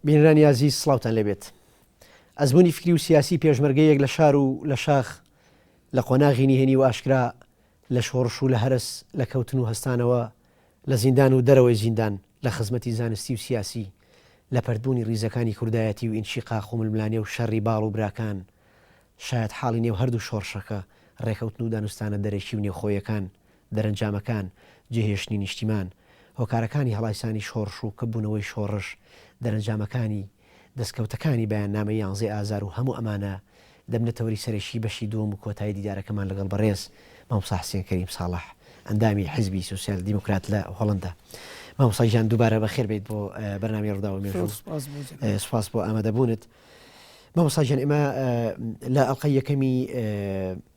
بینەرانی ئازیز سڵاوتان لەبێت ئەزمموی فکری و سیاسی پێشمەرگەیەک لە شار و لە شاخ لە قۆناغی نهێنی و ئاشکرا لە شۆڕش و لە هەرس لە کەوتن و هەستانەوە لە زیندان و دەرەوەی زیندان، لە خزمەتی زانستی و سیاسی، لە پەرتبوونی ڕیزەکانی کوردایەتی و ئینشیقاق و ململانێ و شەڕی باڵ و براکان، شایەتحاڵی نێو هەردوو شۆڕشەکە، ڕێکەوتن و دانوستانە دەرەکی و نێوخۆیەکان، دەرەنجامەکان، جێهێشتنی نیشتیمان، هۆکارەکانی هەڵایسانی شۆڕش و کپبوونەوەی شۆڕش، دەرەنجامەکانی، دەستکەوتەکانی بەیاننامەی یانزەی ئازار و هەموو ئەمانە دەبنە تەوەری سەرەکیی بەشی دووەم و کۆتایی دیدارەکەمان لەگەڵ بەڕێز مامۆستا حسێن کەریم ساڵح ئەندامی حیزبی سۆسیال دیموکرات لە هۆڵەندا. مامۆستا گیان دووبارە بەخێر بێیت بۆ بەرنامەی ڕووداو و مێژوو. سوپاس بۆ ئامادەبوونت. مامۆستا گیان ئێمە لە ئەڵقەی یەکەمی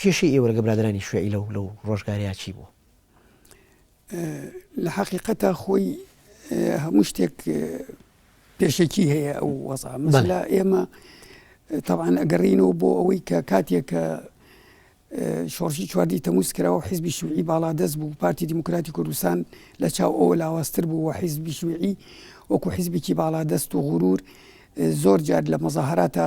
کێشەی ئێوە لەگە برادەرانی شوێعی لەو لەو ڕۆژگارەیە چی بوو؟ لە حەقیقەتا خۆی هەموو شتێک پێشەکی هەیە ئەو وەزا مەلا ئێمە تاوان ئەگەڕینەوە بۆ ئەوەی کە کاتێک کە شۆڕشی چواردی تەموس کراوە حیزبی شوعی باڵا دەست بوو پارتی دیموکراتی کوردستان لە چاو ئەوە لاواستر بوو و حیزبی شوعی وەکو حیزبێکی باڵا دەست و غرور زۆر جار لە مەزاهراتە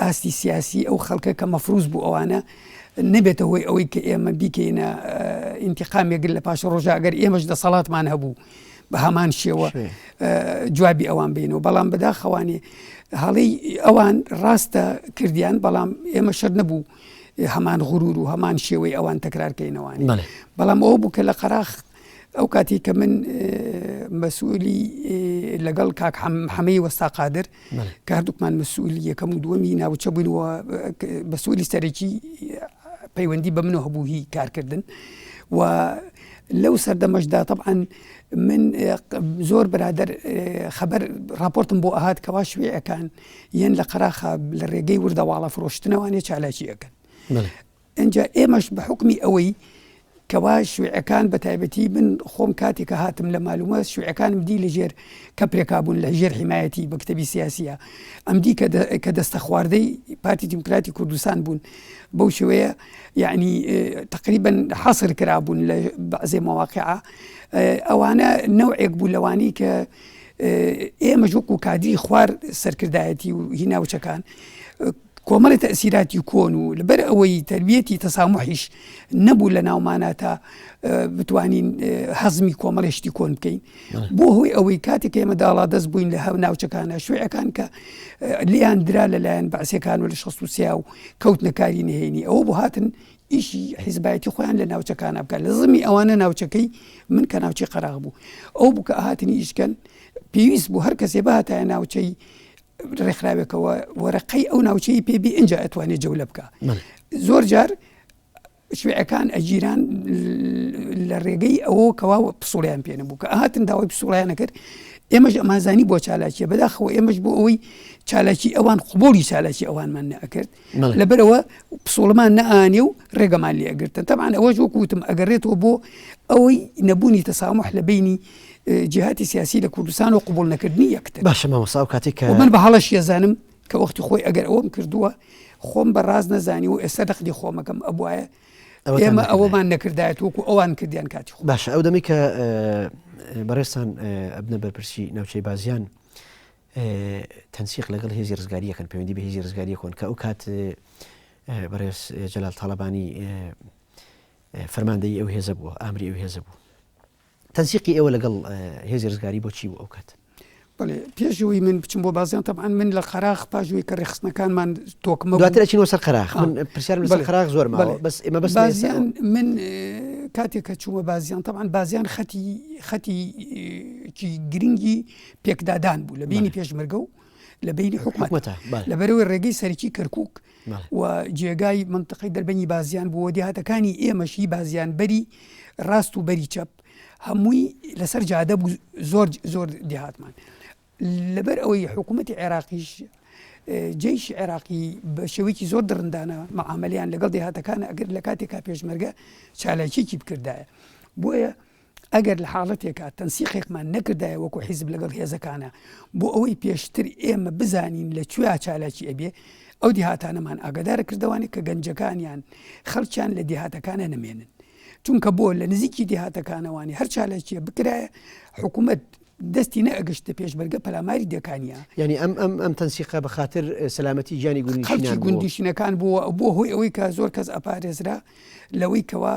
ئاستی سیاسی ئەو خەڵکە کە مەفروز بوو ئەوانە نەبێتە هۆی ئەوەی کە ئێمە بیکەینە ئینتیقامێگر لە پاش ڕۆژە ئەگەر ئێمەش دەسەڵاتمان هەبوو بە هەمان شێوە جوابی ئەوان بینەوە بەڵام بەداخەوانێ هەڵی ئەوان ڕاستە کردیان بەڵام ئێمە شەر نەبوو هەمان غرور و هەمان شێوەی ئەوان تەکرارکەینەوەوان بەڵام ئەو بوو کە لە قەراخت ئەو کاتی کە من مەسوولی لەگەڵ کاک حەمەی وەستا قادر کە هەردووکمان مەسوولی یەکەم و دووەمی ناوچە بووینەوە بەسوولی سەرەکی پەیوەندی بە منەوە هەبوو هی کارکردن و لەو سەردەمەشدا طبعاان من زۆر برادر خەبەر راپۆرتم بۆ ئەهات کەوا شوێەکان یەن لە قەراخە لە ڕێگەی وردەواڵە فرۆشتنەوانێ چالاکی ئەەکەن ئینجا ئێمەش بە حوکمی ئەوەی کەوا شویعەکان بە تایبەتی من خۆم کاتێک کە هاتم لە مالومە شویعەکانم دی لە ژێر کە پرێکابوون لە ژێر حیمایەتی بە کتەبی سیاسیە ئەم دی کە دەستە خواردەی پارتی دیموکراتی کوردستان بوون بەو شوەیە یعنی تقریبا حەسر کرابوون لە بەعزێ مواقعە ئەوانە نەوەک بوو لەوانی کە ئێمە ژوک و کادی خوار سەرکردایەتی و هیناوچەکان کۆمەڵی تەئسیراتی کۆن و لەبەر ئەوەی تەربیەتی تەساموحیش نەبوو لە ناومانا تا بتوانین هەزمی کۆمەڵی شتی کۆن بکەین بۆ هۆی ئەوەی کاتێک ئێمە داڵا دەست بووین لە هەو ناوچەکانە شوێەکان کە لیان درا لەلایەن بەعسیەکان و لە شخص و سیا و کەوت نەکاری نهێنی ئەوە بۆ هاتن ئیشی حیزبایەتی خۆیان لە ناوچەکانە بکە لە زمی ئەوانە ناوچەکەی من کە ناوچی قەراغ بوو ئەو بکە هاتنی ئیشکەن پێویست بوو هەر کەسێ باتە ناوچەی ڕێکخراوێکەوە وەرەقەی ئەو ناوچەی پێبی ئەجا ئەتوانێت جەولە بکە زۆر جار شوێعەکان ئەگیران لە ڕێگەی ئەوە کەوا پسوڵیان پێ نەبوو کە هاتن داوای پسوڵیانە کرد ئێمەش ئەمازانی بۆ چالاکیە بەداخەوە ئێمەش بۆ ئەوەی چالاکی ئەوان قوبڵی چالاکی ئەوانمان نەکرد لەبەرەوە پسۆڵمان نەئانێ و ڕێگەمان لێ ئەگرتن تەمان ئەوەش وەکوتم ئەگەڕێتەوە بۆ ئەوەی نەبوونی تەسامح لە بینی جهاتی سیاسی لە کوردستان و قوبول نەکردنی یەکتر باشە مامەسا و کاتێک من بە هەڵەش یەزانم کە وەختی خۆی ئەگەر ئەوم کردووە خۆم بە ڕاز نەزانی و ئێستا دەخدی خۆمەکەم ئەبواە ئێمە ئەوەمان نەکردایەت وەکو ئەوان کردیان کاتی خۆ باشە ئەو دەمی کە بەڕێستان ئەبنە بەرپرسی ناوچەی بازیان تەنسیق لەگەڵ هێزی رزگاری یەکەن پەیوەندی بە هێزی رزگاری یەکۆن کە ئەو کات بەڕێز جەلال تاڵەبانی فەرماندەی ئەو هێزە بووە ئامری ئەو هێزە بوو تەنسیقی ئێوە لەگەڵ هێزی رزگاری بۆچی بوو ئەو کات بڵێ پێشەوەی من بچم بۆ بازیان تەبان من لە قەراخ پاژووی کە ڕێخستنەکانمان تۆکمە دواترەچین وەسەر قەراخ پرسیار لەسەر قەراخ زۆر بەس ئمە بەس بازیان من کاتێک کە چوومە بازیان تەبان بازیان خەتی خەتی گرنگی پێکدادان بوو لە بینی پێشمەرگە و لە بینی حکوومەتە لەبەرەوەی ڕێگەی سەرکی کەرکک و جێگای منتقی دەربەنی بازیان بووە دیهاتەکانی ئێمەشی بازیان بەری ڕاست و بەری چەپ هەمووی لەسەر جادە بوو زۆر زۆر دیهاتمان لەبەر ئەوەی حکوومەتتی عێراقیش جیش عێراقی بە شێوەیەکی زۆر دڕندانە مەعاملیان لەگەڵ دێهاتەکان ئەگەر لە کاتێکا پێشمەرگە چالاکیێکی بکردایە بۆیە ئەگەر لە حاڵەتێکا تەنسیقێکمان نەکردایە وەکو حیزب لەگەڵ هێزەکانا بۆ ئەوەی پێشتر ئێمە بزانین لە کوێا چالاکی ئەبێ ئەو دیهاتانەمان ئاگادار کردوانێت کە گەنجەکانیان خەڵکیان لە دیهاتەکانە نەمێنن چونکە بۆ لە نزیکی دیهاتەکانەوانی هەر چالاکیە بکرایە حکوومەت دەستی نەگەشتە پێشمەرگە پەلاماری دەکانیا ینی ئەم ئەم ئەم تەنسیقا بە خاطر سەلامەتی گیانی گوندی گوندیشینەکان بووە بۆ هۆی ئەوەی کە زۆر کەس ئەپارێزرا لەوەی کەوا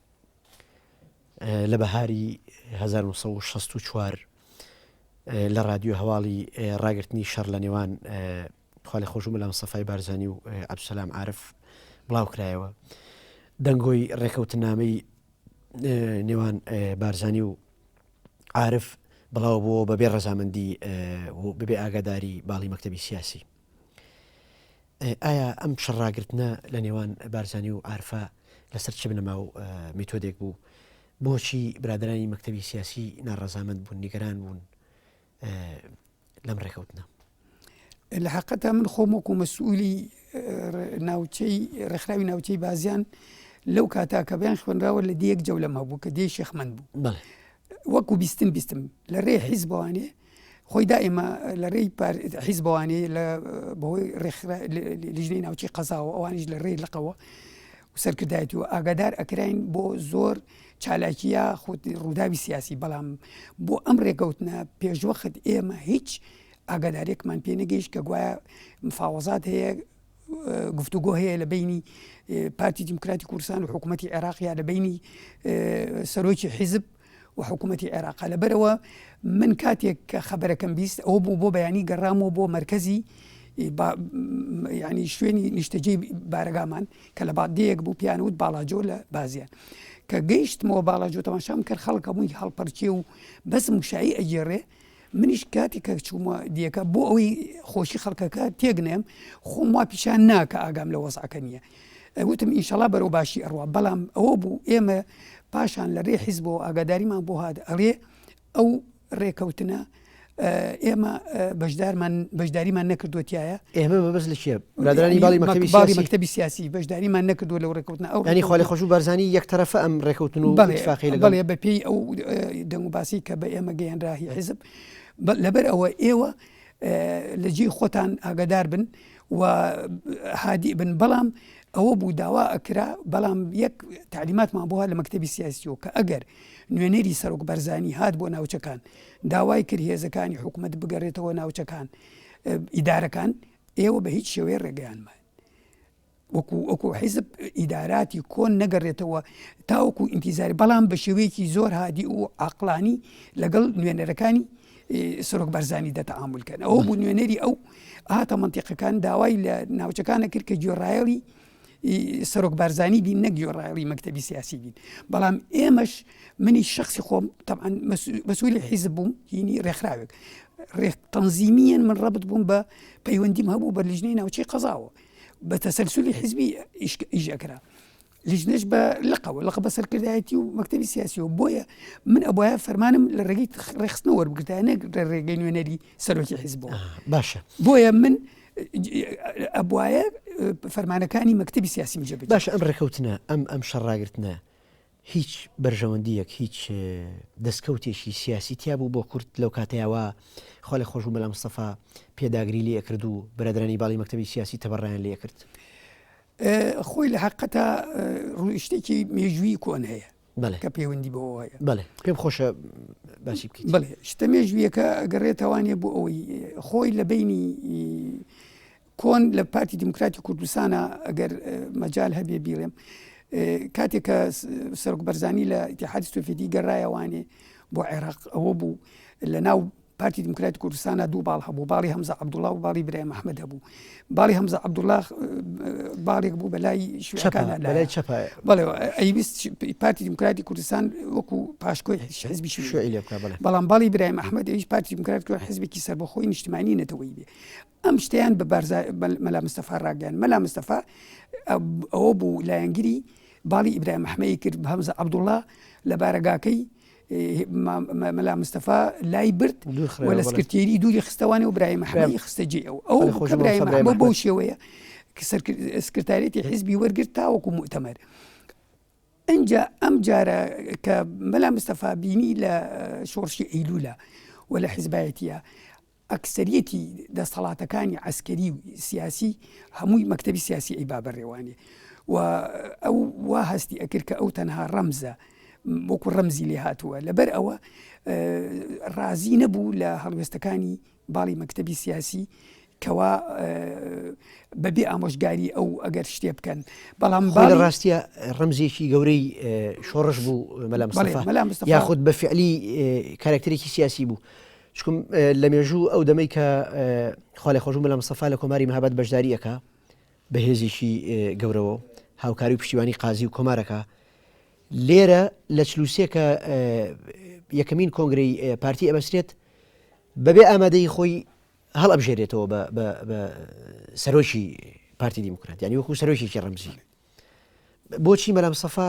لە بەهاری هەزار و نۆ سەد و شەست و چوار لە ڕادیۆ هەواڵی ڕاگررتنی شەڕ لە نێوان خالی خۆش و مەلام سەفای بارزانانی و ئەبسەسلام عرف بڵاو کرایەوە دەنگۆی ڕێکەوتنامەی نێوان بارزانانی و عرف بڵاو بووە بەبێ ڕەزامەندی بەبێ ئاگاداری باڵی مەکتتەبی سیاسی ئایا ئەم پشە ڕاگرتنە لە نێوان بارزانی و ئارفا لەسەر چ بنەما و میتۆدێک بوو بۆچی برادرانی مەکتتەبی سیاسی ناڕزامەند بوون نیگەران بوون لەم ڕێکەوتنە لە حقەتە من خۆم وەکو مەسئولی ناوچەی ڕێکخراوی ناوچەی بازیان لەو کاتا کە بیان خوێنراوە لە دیەک جەولەم هەبوو کە دێ شێخمەند بوو وەکو بیستم بیستم لە رێ حیز بوانێ خۆی دا ئێمە لە رێی حیز بوانێ لە بەهۆی رێخرا لیژنەی ناوچی قەزاوە ئەوانیش لە رێی لەقەوە سەرکردایەتی و ئاگادار ئەکراین بۆ زۆر چالاکیە خود ڕووداوی سیاسی بەڵام بۆ ئەم ڕێکەوتنە پێشوەخت ئێمە هیچ ئاگادارێکمان پێ نەگەیشت کە گوایە مفاوەزات هەیە گفتوگۆ هەیە لە بینی پارتی دیموکراتی کوردستان و حکوومەتتی عێراق یا لە بینی سەرۆکی حیزب و حکوومەتتی عێراق لەبەرەوە من کاتێک کە خەبەرەکەم بیست ئەو بوو بۆ بەیانی گەڕامەوە بۆ مرکزی ینی شوێنی نیشتەجێ بارەگامان کە لە بادەیەک بوو پیانوت باڵاجۆ لە بازیان کە گەیشتمەوە باڵاجۆ تەماشام کرد خەڵکە بووی هەڵپەرچێ و بەس مشایی ئەگێڕێ منیش کاتی کە چوومە دیەکە بۆ ئەوی خۆشی خەڵکەکە تێک نێم خۆم وا پیشان ناکە ئاگام لە وەزعەکە نییە وتم ئینشەڵا بەرەو باشی ئەڕوا بەڵام ئەوە بوو ئێمە پاشان لە رێ حیز بۆ ئاگاداریمان بۆ هاات ئەڵێ ئەو ڕێکەوتنە ئێمە بەشدارمان بەشداریمان نەکردوتیایە ئێمە بەبست لە کێ برادەرانی باڵی مەکتەبی باڵی سیاسی مەکتەبی سیاسی بەشداریمان نەکردووە لەو ڕێکوتنە ئەو یعنی خالی خۆش و بەرزانی یەک تەرەفە ئەم ڕێکوتن و بەڵێ اتفاقی لەگەڵ بەڵێ بە پێی ئەو دەنگ و باسی کە بە ئێمە گەیەنراهی حزب بە- لەبەر ئەوە ئێوە اه، لە جێی خۆتان ئاگادار بن و هادی بن بەڵام ئەوە بوو داوا ئەکرا بەڵام یەک تعلیماتمان بووە لە مەکتتەبی سیاسیەوە کە ئەگەر نوێنەری سەرۆک بەرزانی هات بۆ ناوچەکان داوای کرد هێزەکانی حکوومەت بگەڕێتەوە ناوچەکان اه، ئیدارەکان ئێوە بە هیچ شێوەیە ڕێگەیانمان وەکو وەکو حیزب ئیداراتی کۆن نەگەڕێتەوە تاوەکو ئینتیزاری بەڵام بە شێوەیەکی زۆر هادی و عقلانی لەگەڵ نوێنەرەکانی سرۆک بەرزانی دەتەعاملکەن ئەو بوو نوێنەری ئەو هاتە منتیقەکان داوای لە ناوچەکانە کرد کە گوێڕایەڵی سەرۆک بارزانانی بین نەک گۆڕایڵی مەکتتەبی سیاسی بین بەڵام ئێمەش منی شخصی خۆم تەعاان بەسووری حیزب بووم هینی ڕێکخراوێک ڕێک تەنزیمیان من ڕبت بووم بە پەیوەندیم هەبوو بە لیژنەی ناوچی قەزاوە بە تەسەلسولی حیزبی ئیشەکرا لیژنەش بە لقەوە لەقە بە سەرکردایەتی و مەکتتەبی سیاسیەوە بۆیە من ئەبواە فەرمانم لە ڕێگەی ڕێخستنەوە وەربگرتانە ڕێگەی نوێنەری سەرۆکی حیزبەوە باشە بۆیە من ئەبواە فەرمانەکانی مەکتتەبی سیاسی جێ باش ئەم ڕێکەوتنە ئەم ئەم شەڕاگرتنە هیچ بەرژەوەندیەک هیچ دەستکەوتێکی سیاسی تیا بوو بۆ کورت لەو کاتەیەوە خۆ لە خۆشبوو مەلا مستەفا پێداگری لێ کرد و برادرانی باڵی مەکتتەبی سیاسی تەبڕیان لێ کرد خۆی لە حقەتە ڕووشتێکی مێژووی کۆن هەیە کە پەیوەندی بەوە هەیە بەێ پێم خۆشە باسی بکەیت بڵێ شتە مێژویەکە ئەگەڕێتەوانێ بۆ ئەوەی خۆی لە بینی کۆن لە پارتی دیموکراتی کوردستانە ئەگەر مەجال هەبێ بیڵێم کاتێک کە سەرک بەرزانی لە ئتیحادی سوفیدی گەڕایەوانێ بۆ عێراق ئەوە بوو لە ناو پارتی دیموکراتی کوردستانە دوو باڵ هەبوو باڵی هەمزە عەبدوڵڵا و باڵی برای محەممەد هەبوو باڵی هەمزە عەبدوڵڵا باڵێک بوو بە لای شوەکان لای چپ بەڵێ ئەیویست پارتی دیموکراتی کوردستان وەکو پاشکۆی حزبی شوێ لێ بەڵام باڵی برای محەممەد ئەویش پارتی دیموکرات کرد حزبێکی سەربەخۆی نیشتمانی نەتەوەی بێ ئەم شتیان بە بارزا مەلا مستەفا ڕاگەیان مەلا مستەفا ئەوە بوو لایەنگری باڵی ئیبراهیم مححمەی کرد بە هەمزە عەبدوڵڵا لە بارەگاکەی مەلا مستەفا لای برد و لە سکرتێری دووری خستەوانێ و برای مەحەمەدی خستە جێ ئەو ئەو خۆش برای مەحەمە بەو شێوەیە کە سکرتارێتی حیزبی وەرگرت تاوەکو مؤتەمەر ئەجا ئەم جارە کە مەلا مستەفا بینی لە شۆڕشی ئەیلولا و لە حیزبایەتە ئەکسەریەتی دەستەڵاتەکانی عەسکەری و سیاسی هەمووی مەکتەبی سیاسی ئەی بابەرێوانێ و ئەو وا هەستی ئەکرد کە ئەو تەنها ڕەمزە وەکو ڕەمزی لێ هاتووە لەبەر ئەوە ڕازی نەبوو لە هەڵوێستەکانی باڵی مەکتتەبی سیاسی کەوا بەبێ ئامۆژگاری ئەو ئەگەر شتێ بکەن بەڵام با لە ڕاستە ڕمزێکی گەورەی شۆڕش بوو مەلا یاخود بە فعلی کارکتەرێکی سیاسی بوو چکم لە مێژوو ئەو دەمەی کە خالی خۆشم بە لە مسەفا لە کۆماری مەهابەت بەشداریەکە بە هێزیشی گەورەوە هاوکاری و پشتیوانی قازی و کۆمارەکە لێرە لە چلوسێ کە یەکەمین کۆنگری پارتی ئەبەسرێت بەبێ ئامادەی خۆی هەڵ ئەبژێرێتەوە بە سەرۆکی پارتی دیموکرات ینی وەکو سەرۆکیی ڕمزی بۆچی مەلا مستەفا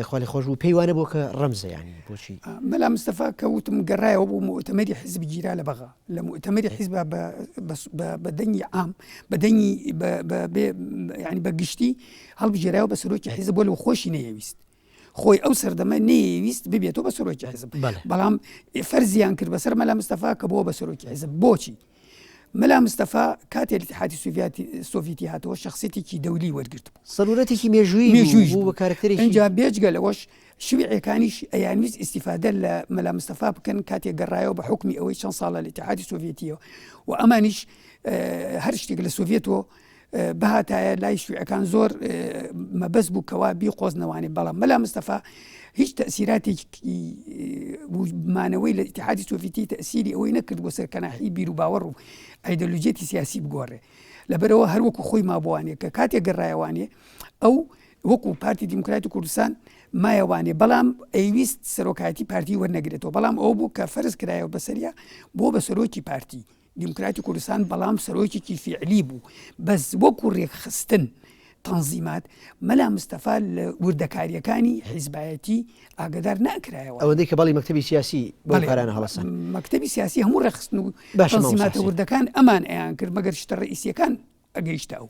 خوا لێ خۆشبوو پێی وانە بوو کە ڕەمزە یانی بۆچی مەلا مستەفا کە وتم گەڕایەوە بوو مؤتەمەری حزب گیرا لە بەغا لە مؤتەمەری حزب بە- بە- بە- بە دەنگی عام بە دەنگی بە- بە- بێ- یعنی بە گشتی هەڵبژێرایەوە بە سەرۆکی حزب بۆ لەو خۆشی نەیەویست خۆی ئەو سەردەمە نەیەویست ببێتەوە بە سەرۆکی حزب بەڵێ. بەڵام فەرزیان کرد بەسەر مەلا مستەفا کە بۆ بە سەرۆکی حزب بۆچی مەلا مستەفا کاتێ لتحاتی سوڤیاتی سۆڤیتی هاتەوە شخصێتێکی دەولی وەرگرت بوو سەرورەتێکی مێژووی مێژووی بوو بە کارکتەری اینجا بێجگە لەوەش شوعەکانیش ئەیانویست ئیسیفادە لە مەلا مستەفا بکەن کاتێک گەڕایەوە بە حکمی ئەوەی چەند ساڵە لە لتحاتی سۆڤێتیەوە و ئەمانیش هەر شتێک لە سۆڤێتەوە بهاتایە لای شیوعەکان زۆر مەبەست بوو کەوا بیقۆزنەوانێ بەڵام مەلا مستەفا هیچ تەسیراتێکی مانەوەی لە ئتحادی سۆفیتی تەسیری ئەوەی نەکرد بۆ سەر کەناحی بیر و باوەڕ و ئایدەلوجێتی سیاسی بگۆڕێ لەبەرەوە هەروەکو خۆی مابووانێ کە کاتێک گەڕایوانێ ئەو وەکو پارتی دیموکراتی کوردستان مایەوانێ بەڵام ئەیویست سەرۆکایەتی پارتی وەرنەگرێتەوە بەڵام ئەو بوو کە فەرز کرایەوە بەسەریا بۆ بە سەرۆکی پارتی دیموکراتی کوردستان بەڵام سەرۆکێکی فیعلی بوو بەس وەکو ڕێکخستن تەنزیمات مەلا مستەفا لە وردەکاریەکانی حیزبایەتی ئاگدار ناکرایەوە ئەوەندەی کە بەڵی مەکتتەبی سیاسی بەڵێرانە هەڵسان مەکتتەبی سیاسی هەموو ڕێخستن و باشماتە وردەکان ئەمان ئەیان کرد مەگەر شتە ڕئیسیەکان ئەگەیشتە ئەو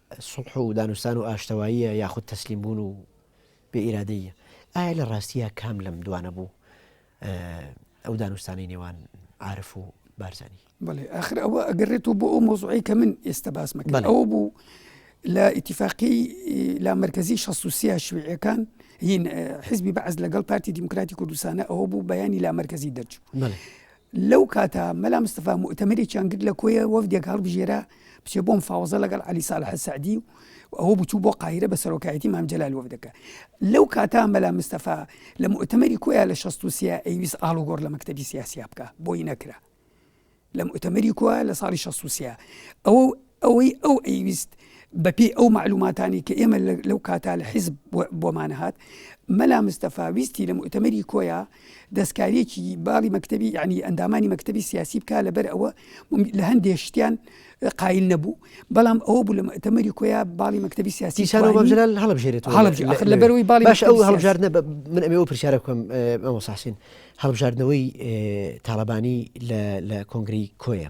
سوڵح و دانوستان و ئاشتەواییە یاخود تەسلیم بوون و بێ ئیرادەییە؟ ئایا لە ڕاستییا کام لەم دوانە بوو ئەو دانوستانەی نێوان عارف و بارزانی؟ بەڵێ ئاخر ئەوە ئەگەرێتەوە بۆ ئەو مۆزوعی کە من ئێستا باسمەکەن ئەوە بوو لە ئیتیفاقی لا مرکزی شەسوسیا شوێەکان هین حزبی بەعز لەگەڵ پارتی دیموکراتی کوردستانە ئەوە بوو بەیانی لا مرکزی دەرچوو لەو کاتە مەلا مستەفا موئتەمەرێکیان گرت لە کۆیە وەفدێک هەڵبژێرا بچێ بۆ مفاوەزە لەگەڵ عەلی ساڵح سەعدی و ئەوە بچوو بۆ قاهیرە بە سەرۆکایەتی مام جەلال وەفدەکە لەو کاتا مەلا مستەفا لە موئتەمەری کۆیە لە 63 ئەیویست ئاڵوگۆڕ لە مەکتەبی سیاسیا بکە بۆی نەکرا لە موئتەمەری کۆیە لە ساڵی 63 ئەوە ئەوەی ئەو ئەیویست بە پێی ئەو مەعلوماتانەی کە ئێمە لەو کاتە لە حیزب بۆمان هات، مەلا مستەفا ویستی لە موئتەمەری کۆیە دەستکارییەکی باڵی مەکتەبی یەعنی ئەندامانی مەکتەبی سیاسی بکات لەبەر ئەوە لە هەندێ شتیان قایل نەبوو، بەڵام ئەوە بوو لە موئتەمەری کۆیە باڵی مەکتەبی سیاسی شار و مەمجلال هەڵبژێرێت هەڵبژێرێت ئاخر لەبەرەوەی باڵی باشە ئەو هەڵبژاردنە بە من ئەمێ ئەو پرسیارە بکەم مامۆستا حسین هەڵبژاردنەوەی تاڵەبانی لە کۆنگرەی کۆیە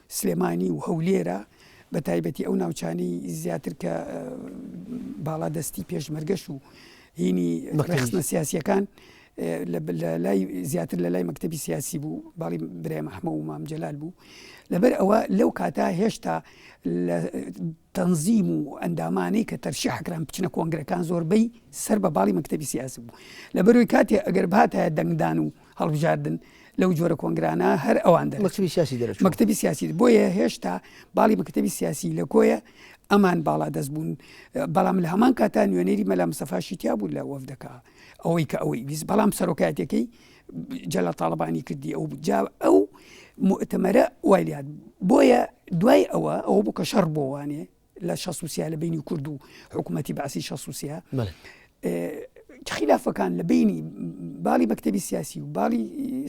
سلێمانی و هەولێرە بە تایبەتی ئەو ناوچانەی زیاتر کە باڵا دەستی پێشمەرگەش و هینی ڕخستنە سیاسیەکان لای زیاتر لە لای مەکتتەبی سیاسی بوو باڵی برای مححمە و مام جلال بوو لەبەر ئەوە لەو کاتا هێشتا لە تەنزیم و ئەندامانەی کە تەرشی حکران بچنە کۆنگرەکان زۆربەی سەر بە باڵی مەکتتەبی سیاسی بوو لە بەروی کاتێ ئەگەر باتە دەنگدان و هەڵبژاردن لەو جۆرە کۆنگرانە هەر ئەوان دەن مەکتبی سیاسی دەرەوە مەکتبی سیاسی بۆیە هێشتا باڵی مەکتبی سیاسی لە کۆیە ئەمان باڵا دەست بوون بەڵام لە هەمان کاتا نوێنەری مەلا مسەفاشی تیا بوو لە وەفدەکە ئەوەی کە ئەوەی ویست بەڵام سەرۆکاتەکەی جەلا تاالبانی کردی ئەو جا ئەو مؤتەمەرە وایلات بۆیە دوای ئەوە ئەوە بوو کە شەڕ بۆوانێ لە شەسوسیا لە بینی کورد و حکوومەتتی بەعسی شەسوسیا خلافەکان لە بینی باڵی بەکتتەبی سیاسی و باڵی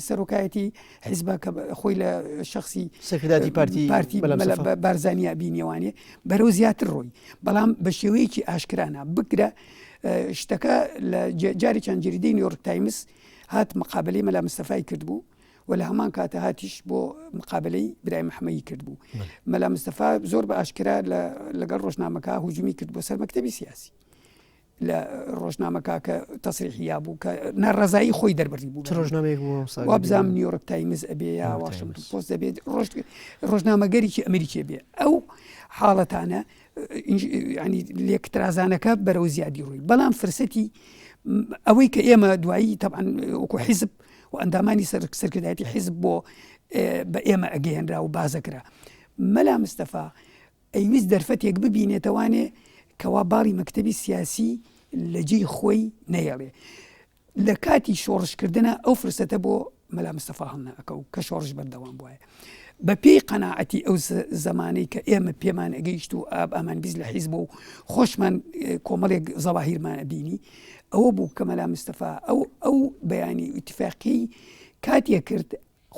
سەرۆکایەتی حیزبە کە خۆی لە شخصی سەکرداتی پارتی پارتی بارزانیا بینیوانێ بەرەو زیاتر ڕۆی بەڵام بە شێوەیەکی ئاشکرانە بگرە شتەکە لە جاری چەند جریدەی نیۆرک تایمس هات مقابلی مەلا مستەفای کرد بوو و لە هەمان کاتە هاتیش بۆ مقابلەی برای مححمەی کرد بوو مەلا مستەفا زۆر بە ئاشکرا لەگەڵ ڕۆژنامەکە هجومی کرد بۆ سەر مەکتتەبی سیاسی لە ڕۆژنامەکە کە تەسریحیا بوو کە ناڕزایی خۆی دەربڕی بوو ڕۆژنامەیەک وابزانام نیویۆرک تایمز ئەبێ یا واشنگ پۆست دەبێت ڕۆژ ڕۆژنامەگەریی ئەمریکی بێ ئەو حاڵەتانە ینی لێکترازانەکە بەرەو زیادی ڕووی بەڵام فرسەتی ئەوەی کە ئێمە دوایی تەعاان وەکو حیزب و ئەندامانی سەرکردایەتی حیزب بۆ بە ئێمە ئەگەیەنرا و بازەکرا مەلا مستەفا ئەیویست دەرفەتێک ببینێتەوانێ کەوا باڵی مەکتتەبی سیاسی لە جێی خۆی نەیەڵێ لە کاتی شۆڕشکردە ئەو فرسەتە بۆ مەلا مستەفا هەڵناکە و کە شۆڕش بەردەوام بواە بە پێی قەناعەتی ئەو زمانەی کە ئێمە پێمان ئەگەیشت و ئاب ئامان بیست لە حیزب و خۆشمان کۆمەڵێک زەواهیرمان ئەبینی ئەوە بوو کە مەلا مستەفا ئەو ئەو بەیانی ئیتفاقی کاتێ کرد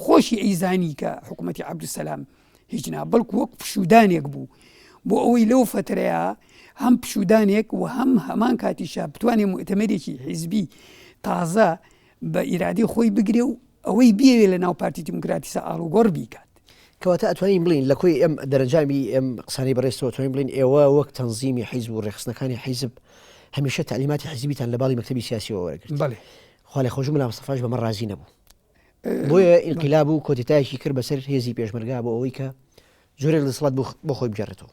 خۆشی ئەیزانی کە حکوومەتتی عبدسلام هیچ نا بەڵکو وەک پشودانێک بوو بۆ ئەوەی لەو فترەیە هەم پشودانێک و هەم هەمان کاتیشە بتوانێت متەمەێکی حیزبی تازە بە ئیرادەی خۆی بگرێ و ئەوەی بیەوێ لە ناو پارتی دیموکراتی سا ئاڵوگۆڕ بیکات. کەواتە ئەتوانین بڵین لە کۆی ئەم دەرەنجامی ئەم قسانەی بەڕێزتەوە توانین بڵین ئێوە وەک تەنزیمی حیزب و ڕێخستنەکانی حیزب هەمیشە تعلیماتی حیزبیتان لە باڵی مەکتتەبی سیاسیەوە وەرەگرت بەێ خالی خۆش ملا مستەفاش بەمە ڕازی نەبوو بۆیە ئینقلاب و کۆتتایشی کرد بەسەر هێزی پێشمەرگا بۆ ئەوەی کە جۆرە دەسڵات بۆ خۆی بجارێتەوە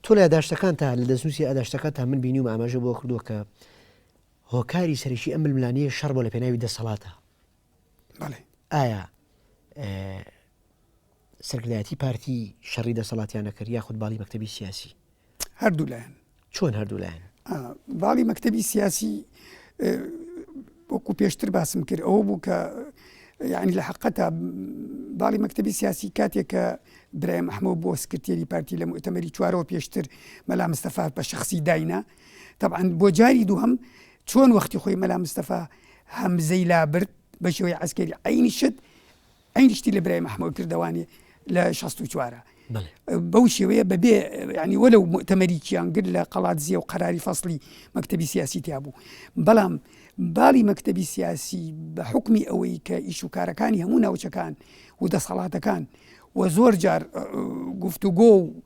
تۆ لە داشتەکان تا لە دەستنووسی ئاداشتەکە تا من بینی و ئاماژە بۆ کردووە کە هۆکاری سەرەکی ئەم ململانێیە شەڕ بۆ لە پێناوی دەسەڵاتە. ئایا سەرکردایەتی پارتی شەڕی دەسەڵاتیان نەکرد یاخود باڵی مەکتتەبی سیاسی هەردوو لایەن چۆن هەردوو لایەن باڵی مەکتتەبی سیاسی وەکو پێشتر باسم کرد ئەوە بوو کە یعنی لە حقەتە باڵی مەکتتەبی سیاسی کاتێک کە برایم ئەحمە بۆ سکرتێری پارتی لە متەمەری چوارەوە پێشتر مەلا مستەفات بە شخصی داینا تەبعەن بۆ جاری دووهەم چۆن وەختی خۆی مەلا مستەفا هەمزەی لابرد بە شێوەی عسکەری عینی شت عینی شتی لە برای مححمەوە کردوانێ لە 16 چوارە بەو شێوەیە بەبێ ینی وەلو تەمەریکیان گر لە قەڵات زیە و قەراری فەصلی مەکتتەبی سیاسی تیا بوو بەڵام باڵی مەکتتەبی سیاسی بە حکمی ئەوەی کە ئیش و کارەکانی هەموو ناوچەکان و دەسەڵاتەکان و زۆر جار گفتوگۆ و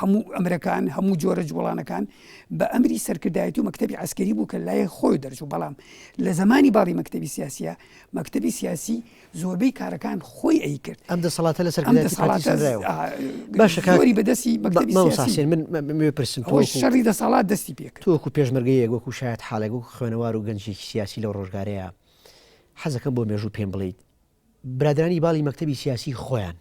هەموو ئەمرەکان، هەموو جۆرە جووڵانەکان بە ئەمری سەرکردایەتی و مەکتەبی عەسکەری بوو کە لای خۆی دەرچوو، بەڵام لە زەمانی باڵی مەکتەبی سیاسییە، مەکتەبی سیاسی زۆربەی کارەکان خۆی ئەیکرد. ئەم دەسەڵاتە لە سەرکردایەتی پارتی سەنرایەوە. باشە کاک زۆری بەدەستی مەکتەبی مامۆستا سیاسی حسێن من من بێ پرسم تۆ خۆی وەکو شەڕی دەسەڵات دەستی پێ کرد. تۆ وەکو پێشمەرگەیەک وەکو شایەتحاڵێک وەکو خوێنەوار و گەنجێکی سیاسی لەو ڕۆژگارەیە حەزەکەم بۆ مێژوو پێم بڵێیت برادەرانی باڵی مەکتەبی سیاسی خۆیان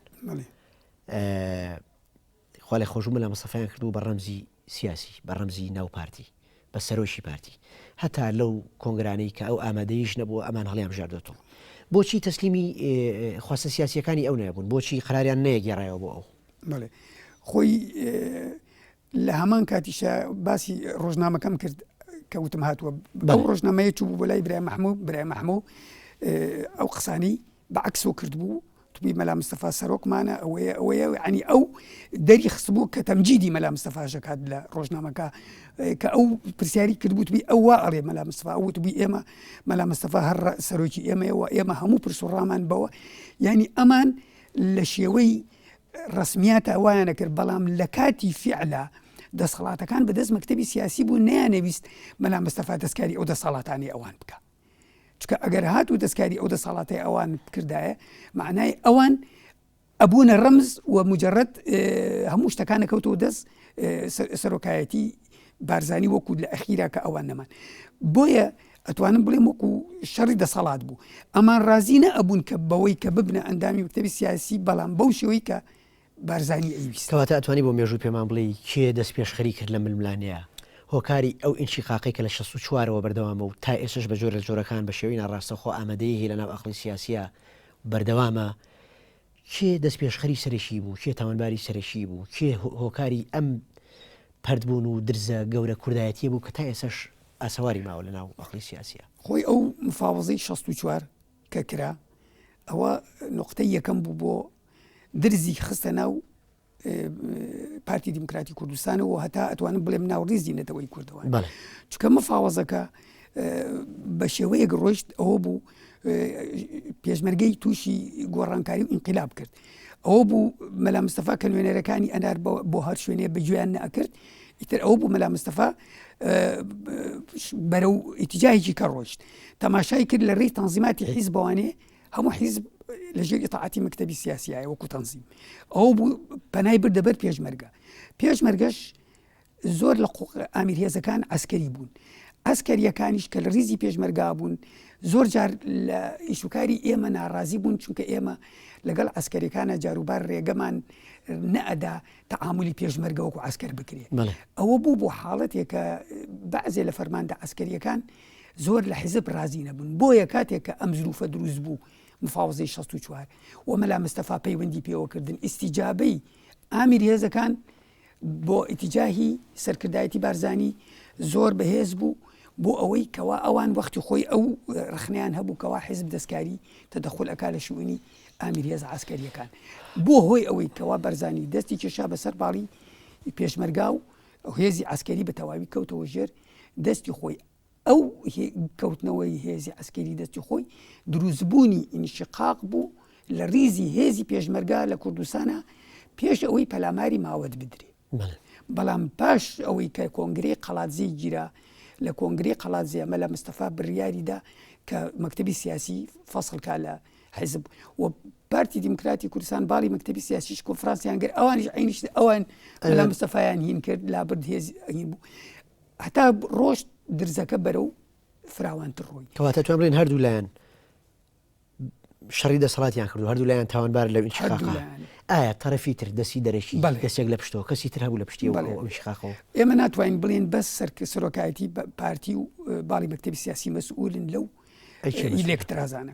خوا لێ خۆشبوو مەلا مستەفایان کردبوو بە ڕەمزی سیاسی بە ڕەمزی ناو پارتی بە سەرۆکی پارتی هەتا لەو کۆنگرانەی کە ئەو ئامادەیش نەبووە ئەمان هەڵیان بژاردۆتەوە بۆچی تەسلیمی خواستە سیاسیەکانی ئەو نەبوون بۆچی قراریان نەیەگەێڕایەوە بۆ ئەو خۆی لە هەمان کاتیشا باسی ڕۆژنامەکەم کرد کە وتم هاتووە بەو ڕۆژنامەیە چوو بۆ لای برای مححموو برای مححموو ئەو قسانی بەعکسۆ کردبوو توبی مەلا مستەفا سەرۆکمانە ئەوەیە ئەوەیە عنی ئەو دەری خستبوو کە تەمجیدی مەلا مستەفاژەکات لە ڕۆژنامەکە کە ئەو پرسیاری کردبووتبی ئەوە ئەڵێ مەلا مستەفا وتبووی ئێمە مەلا مستەفا هەر سەرۆکی ئێمەەوە ئێمە هەموو پرسوڕامان بەوە ینی ئەمان لە شێوەی ڕەسمیاتە وایانە کرد بەڵام لە کاتی فیعلا دەسەڵاتەکان بەدەست مەکتەبی سیاسی بوو نیانەویست مەلا مستەفا دەستکاری ئەو دەسەڵاتانی ئەوان بکە چکە ئەگەر هات و دەستکاری ئەو دەسەڵاتی ئەوان بکردایە معنای ئەوان ئەبوونە ڕمز و مجرد هەموو شتەکانە کەوتەوە دەست سەرۆکایەتی بارزانی وەکو لە ئەخیرا کە ئەوان نەمان بۆیە ئەتوانم بڵێم وەکو شەڕی دەسەڵات بوو ئەمان ڕازی نە ئەبوون کە بەوەی کە ببنە ئەندامی وکتتەبی سیاسی بەڵام بەو شێوەی کە بارزانانی ئەویستەوە تا ئەتوانی بۆ مێژوو پێمان بڵێ کێ دەست پێشخەری کرد لە ململانەیە هۆکاری ئەو ئینچی قاقی کە لە شە و چوارەوە بەردەوامە و تا ئێسش بە جۆرە جۆرەکان بە شێوی ناڕاستەخۆ ئامادەیه لە ناو ئەخلی سیاسە بەردەوامە کێ دەستپێشخەری سەرەکی بوو، کێ تاوانباری سەرەکی بوو، کێ هۆکاری ئەم پەرت بوون و درزە گەورە کوردایەتیە بوو کە تا ئێسەش ئاسەواری ماوە لە ناو ئەقڵی سیاسیا. خۆی ئەو مفاوەزەی شەست و چوار کە کرا ئەوە نوقتەی یەکەم بوو بۆ درزی خستە ناو پارتی دیموکراتی کوردستانەوە هەتا ئەتوانم بڵێم ناوڕیزی نەتەوەی کوردەوە چکە مەفاوەزەکە بە شێوەیەک ڕۆیشت ئەوە بوو پێشمەرگەی تووشی گۆڕانکاری و ئینقلاب کرد ئەوە بوو مەلا مستەفا کە نوێنەرەکانی ئەنار بۆ هەر شوێنێ بەگوێیان نەکرد ئیتر ئەو بوو مەلا مستەفا بەرە و ئیتیجاهێکی کە ڕۆشت تەماشای کرد لە ڕێی تەنزیماتی حیز بەوانێ هەموو حیزب لە ژێر ئیتاعەتی مەکتەبی سیاسیایە وەکو تەنزیم ئەو بوو پەنای بردە بەر پێشمەرگە پێشمەرگەش زۆر لە ئامیر هێزەکان ئەسکەری بوون ئەسکەریەکانیش کە لە ریزی پێشمەرگا بوون زۆر جار لە ئیشوکاری ئێمە ناڕازی بوون چونکە ئێمە لەگەڵ ئەسکەریەکانە جاروبار ڕێگەمان نەئەدا تەعاملی پێشمەرگەوەکو ئەسکەر بکرێت ئەوە بوو بۆ حاڵەتێکە بەعزێ لە فەرماندە ئەسکەریەکان زۆر لە حیزب ڕازی نەبوون بۆیە کاتێک کە ئەم زروفە دروست بوو مفاوزەی 64 و مەلا مستەفا پەیوەندی پێوەکردن ئیسیجابەی ئامیر هێزەکان بۆ ئیتیجاهی سەرکردایەتی بارزانی زۆر بەهێز بوو بۆ ئەوەی کەوا ئەوان وەختی خۆی ئەو رخنیان هەبوو کەوا حیزب دەستکاری تەدەخل ئەک لە شوونی ئامیرێز عسکەریەکان بۆ هۆی ئەوەی کەوا بەرزانی دەستی کێشا بەسەر باڵی پێشمەرگا و ئەو هێزی عەسکەری بە تەواوی کەوتەوە ژێر دەستی خۆی ئەو کەوتنەوەی هێزی عەسکەری دەستی خۆی دروستبوونی ئینشقاق بوو لە ریزی هێزی پێشمەرگا لە کوردستانە پێش ئەوەی پەلاماری ماوەت بدرێ بەڵام پاش ئەوەی کە کۆنگری قەڵاتزی گیرا لە کۆنگری قەڵات زێمە لە مستەفا بڕیاریدا کە مەکتتەبی سیاسی فەسڵکە لە حیزب و پارتی دیموکراتی کوردستان باڵی مەکتتەبی سیاسیش کۆفرانسیان گەر ئەوانیش عینیش ئەوان ئەلا مستەفایان هین کرد لا برد هێز ئەین بوو هەتا ڕۆشت درزەکە بەرەو فراوانتر ڕووی کەواتە توان بڵێن هەردوو لایەن شەڕی دەسەڵاتیان کردو هەردوو لایەن تاوانبار لە ئینشقاقا ئایا تەرەفی تر دەسی دەرەکی دەسێک لە پشتەوە کەسی تر هەبوو لە پشتی ئەوشقاقەوە ئێمە ناتوانین بڵێن بەس سەرکە سەرۆکایەتی پارتی و باڵی مەکتتەبی سیاسی مەسئولن لەو ئیلێکترازانە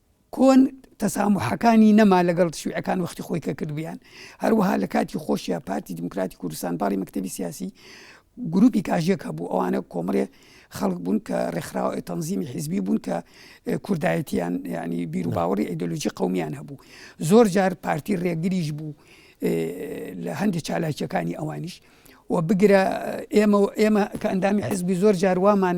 کۆن تەساموحەکانی نەما لەگەڵ شیوعەکان وەختی خۆی کە کردبیان هەروەها لە کاتی خۆشیە پارتی دیموکراتی کوردستان باڵی مەکتەبی سیاسی گروپی کاژێک هەبوو ئەوانە کۆمەڵێ خەڵک بوون کە ڕێکخراوە تەنزیمی حیزبی بوون کە کوردایەتیان ینی بیر و باوەڕی ئەیدۆلۆژی قومیان هەبوو زۆر جار پارتی ڕێگریش بوو لە هەندێک چالاکیەکانی ئەوانیش و بگرە ئێمە ئێمە کە ئەندامی حزبی زۆر جاروامان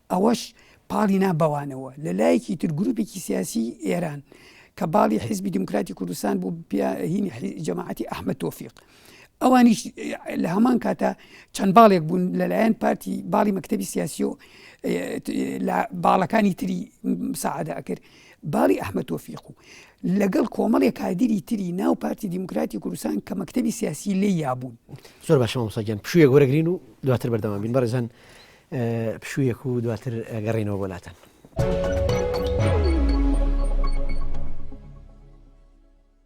ئەوەش پاڵی نا بەوانەوە. لە لایەکی تر گروپێکی سیاسیی ئێران کە باڵی حیزبی دیموکراتی کوردستان بوو بە هینی جەماعەتی ئەحمەد تۆفیق ئەوانیش لە هەمان کاتە چەند باڵێک بوون لەلایەن پارتی باڵی مەکتەبی سیاسی و لە باڵەکانی تری سەعادە ئەکرد باڵی ئەحمە تۆفیق و لەگەڵ کۆمەڵی کادری تری ناو پارتی دیموکراتی کوردستان کە مەکتتەبی سیاسی لێ یابوون زۆر باشەوە سەگەن پشوویە گۆرەگرین و دواتر بەردەوام بین بەڕێزان پشوویەک و دواتر گەڕێنەوە بۆ لاتان.